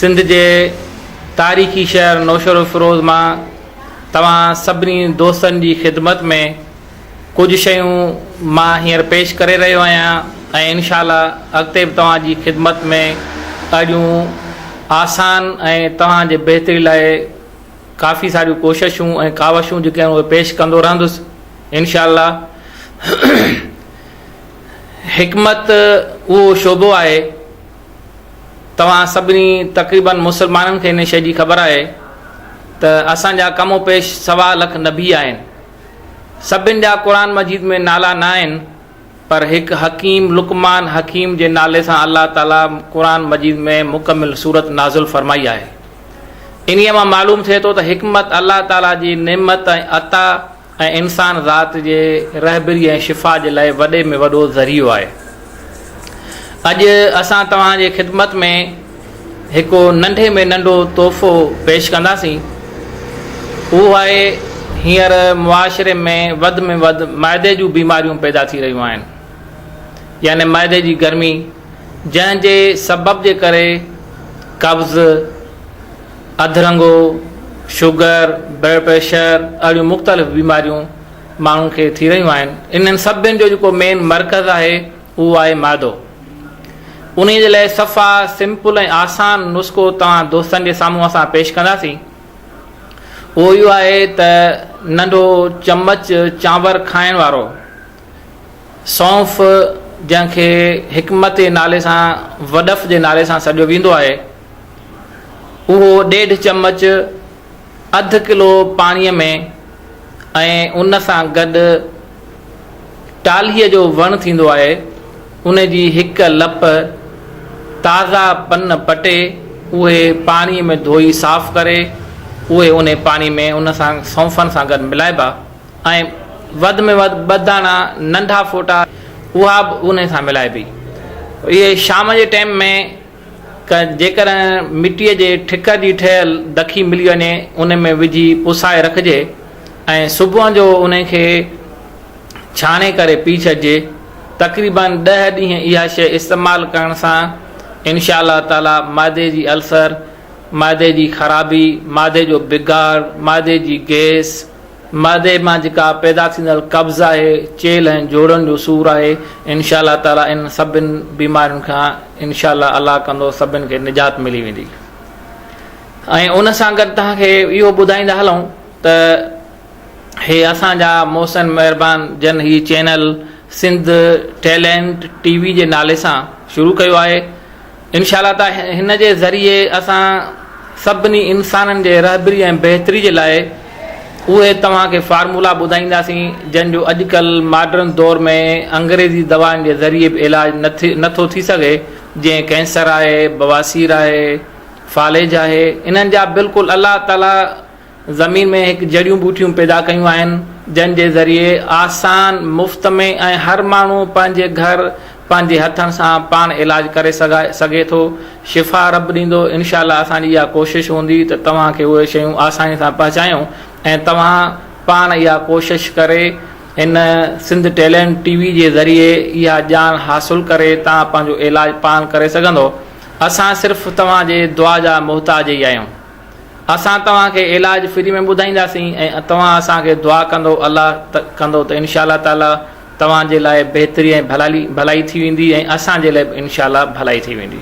سنڌ جي تاريخي شهر نوشهروفيروز مان توهان سڀني دوستن جي خدمت ۾ ڪجهه شيون مان هينئر پيش ڪري رهيو آهيان ۽ انشاء الله اڳتي به توهان جي خدمت ۾ اهڙيون آسان ۽ توهان جي بهتري لاء ڪافي ساريون ڪوششون ۽ ڪاوشون جيڪي آهن اهي پيش ڪندو رهندس انشاء الله حڪمت اهو شعبو آهي توهان سڀني تقريبن مسلمانن کي ان شيء جي خبر آهي ته اسان جا کم و پيش سوا لک نبي آهن سڀن جا قرآن مجيد ۾ نالا نه آهن پر هڪ حڪيم لقمان حڪيم جي نالي سان الله تعاليٰ قرآن مجيد ۾ مڪمل سورت نازل فرمائي آهي. انهيء مان معلوم ٿئي ٿو ته حڪمت الله تعاليٰ جي نعمت ۽ عطا ۽ انسان ذات جي رهبري ۽ شفا جي لاء وڏي ۾ وڏو ذريعو آهي. اڄ اسان توهان جي خدمت ۾. هڪ ننڍي ۾ ننڍو تحفو پيش ڪنداسين اهو آهي هينئر معاشري ۾ وڌ ۾ وڌ معدي جون بيماريون پيدا ٿي رهيون آهن يعني معدي جي گرمي جنهن جي سبب جي ڪري قبض اڌرنگو شگر بلڊ پريشر اهڙيون مختلف بيماريون ماڻهن کي ٿي رهيون آهن انهن سڀن جو جيڪو مين مرڪز آهي هو آهي معدو. انهيء جي لاء صفا، سمپل ۽ آسان نسخو توهان دوستن جي سامهون اسان پيش ڪنداسين. اهو اهو آهي ته ننڍو چمچ چانور کائڻ وارو سونف جنهن کي حڪمت جي نالي سان وڏف جي نالي سان سڏيو ويندو آهي اهو ڏيڍ چمچ اڌ ڪلو پاڻيء ۾ ۽ ان سان گڏ ٽالهيء جو وڻ ٿيندو آهي، ان جي هڪ لپ تازا پن پٽي اهي پاڻيء ۾ ڌوئي صاف ڪري، اهي انهي پاڻي ۾ ان سان سونفن سان گڏ ملائبا ۽ وڌ ۾ وڌ ٻه داڻا ننڍا ڦوٽا اها به انهي سان ملائبي. اهي شام جي ٽيم ۾. ڪن، جيڪڏهن مٽيء جي ٺڪ جي ٺهيل دکي ملي وڃي ان ۾ وجهي پسائي رکجي ۽ صبح جو ان کي ڇاڻي ڪري پي ڇڏجي، تقريبن ڏهه ڏينهن اها شيء استعمال ڪرڻ سان انشاء الله تعالي معدي جي السر، معدي جي خرابي، معدي جو بگاڙ، معدي جي گيس، معدي مان جيڪا پيدا ٿيندڙ قبض آهي، چيلهه ۽ جوڙن جو سور آهي، انشاء الله تعاليٰ انهن سڀن بيمارين کان انشاء الله الله ڪندو سڀن کي نجات ملي ويندي ۽ ان سان گڏ توهان کي اهو ٻڌائيندا هلون ته هي اسان جا محسن مهربان جن هي channel Sindh Talent TV جي نالي سان شروع ڪيو آهي انشاء الله ته هن جي ذريعي اسان سڀني انسانن جي رهبري ۽ بهتري جي لاء اهي توهان کي فارمولا ٻڌائينداسين جن جو اڄڪلهه ماڊرن دور ۾ انگريزي دوائن جي ذريعي به علاج نه ٿو ٿي سگهي جيئن ڪينسر آهي بواسير آهي فالج آهي انهن جا بلڪل الله تعالي زمين ۾ هڪ جڙيون ٻوٽيون پيدا ڪيون آهن، جن جي ذريعي آسان، مفت ۾ ۽ هر ماڻهو پنهنجي گهر پنهنجي هٿن سان پاڻ علاج ڪري سگهي ٿو. شفا رب ڏيندو، انشاء الله اسان جي اها ڪوشش هوندي ته توهان کي اهي شيون آساني سان پهچايون ۽ توهان پاڻ اها ڪوشش ڪري هن سنڌ ٽيلينٽ ٽي وي جي ذريعي اها ڄاڻ حاصل ڪري توهان پنهنجو علاج پاڻ ڪري سگهندو. اسان صرف توهان جي دعا جا محتاج ئي آهيون. اسان توهان کي علاج فري ۾ ٻڌائينداسين ۽ توهان اسان کي دعا ڪندو الله ته ڪندو ته انشاء الله تعالي توهان جي لاء بهتري ۽ ڀلائي ٿي ويندي ۽ اسان جي لاء به انشاء الله ڀلائي ٿي ويندي.